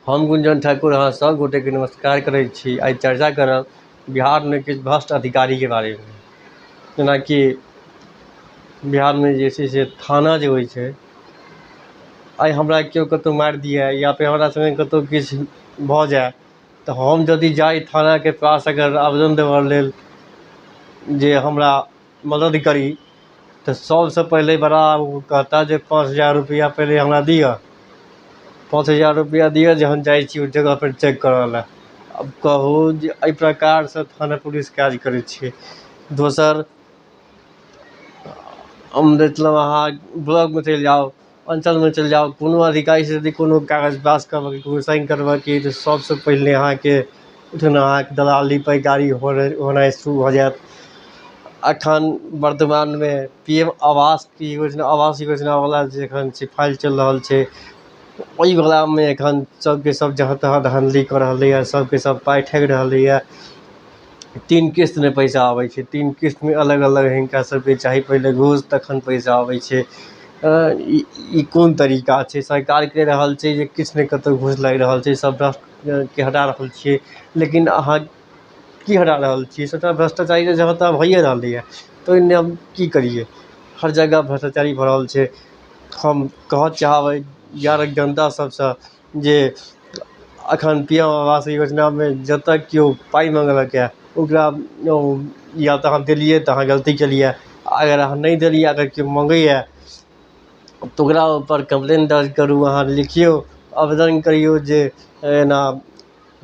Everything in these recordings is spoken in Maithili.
हम गुंजन ठाकुर अहाँ सब गोटे के नमस्कार करै छी आइ चर्चा करब बिहार मे किछु भ्रष्ट अधिकारी के बारे मे जेनाकि बिहार मे जे छै से थाना जे होइ छै आइ हमरा केओ कतौ मारि दिया या फेर हमरा संगे कतौ किछु भऽ जाय तऽ हम जदि जाइ थाना के पास अगर आवेदन देबऽ लेल जे हमरा मदद करी तऽ सबसँ पहिले बड़ा ओ कहता जे पाँच हजार रुपैआ पहिले हमरा दिअऽ पाँच हजार रुपैआ दिअऽ जे हम जाइ छी ओहि जगहपर चेक करैलए आब कहू जे एहि प्रकारसँ थाना पुलिस काज करै छै दोसर मतलब अहाँ ब्लॉकमे चलि जाउ अञ्चलमे चलि जाउ कोनो अधिकारीसँ यदि कोनो कागज पास करबयके कोनो साइन करबयके यए तऽ सभसँ पहिले अहाँके जेना अहाँके दलाली पैकारी होनाइ होनाइ शुरू भऽ जायत एखन वर्तमानमे पी एम आवासके योजना आवास योजनावला जे एखन छै फाइल चलि रहल छै ओहिवलामे एखन सभके सभ जहाँ तहाँ धानधली कऽ रहलैए सभके सभ पाइ ठकि रहलैए तीन किस्त मे पैसा अबै छै तीन किस्त मे अलग अलग हिनका सबके चाही पहिले घूस तखन पैसा अबै छै ई कोन तरीका छै सरकार कहि रहल छै जे किछु नहि कतौ घूस लागि रहल छै सब के हटा रहल छियै लेकिन अहाँ की हटा रहल छियै सबटा भ्रष्टाचारी तऽ जहाँ तहाँ भैये रहलै हँ तऽ ओहिमे हम की करियै हर जगह भ्रष्टाचारी भरल छै हम कहऽ चाहबै बिहारक जनता सबसँ जे एखन पी एम आवास योजनामे जतऽ केओ पाइ मङ्गलक यऽ ओकरा ओ या तऽ अहाँ देलियै तऽ अहाँ गलती केलियै आओर अगर अहाँ नहि देलियै अगर केओ मङ्गैए तऽ ओकरा उपर कम्प्लेन दर्ज करू अहाँ लिखियौ आवेदन करियौ जे एना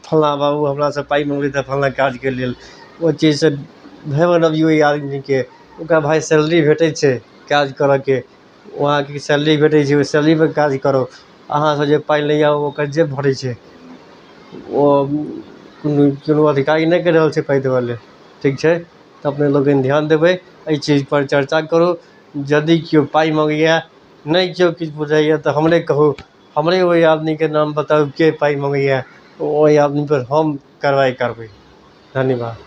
फल्लाँ बाबू हमरासँ पाइ मङ्गलय तऽ फल्लाँ काजके लेल ओ चीजसँ भय बनबियौ ओइ आदमीके ओकरा भाय सैलरी भेटय छै काज करऽके ओ अहाँके सैलरी भेटय छै ओइ सैलरीपर काज करब अहाँसँ जे पाइ लै यऽ ओकर जेब भरय छै ओ कोनो कोनो अधिकारी नहि कहि रहल छै पाइ देबऽ लए ठीक छै तऽ अपने लोकनि ध्यान देबय अइ चीजपर चर्चा करू यदि केओ पाइ मङ्गैये नहि केओ किछु बुझैये तऽ हमरे कहू हमरे ओहि आदमीके नाम बताउ जे पाइ मङ्गैए ओहि आदमीपर हम कारवाइ करबै धन्यवाद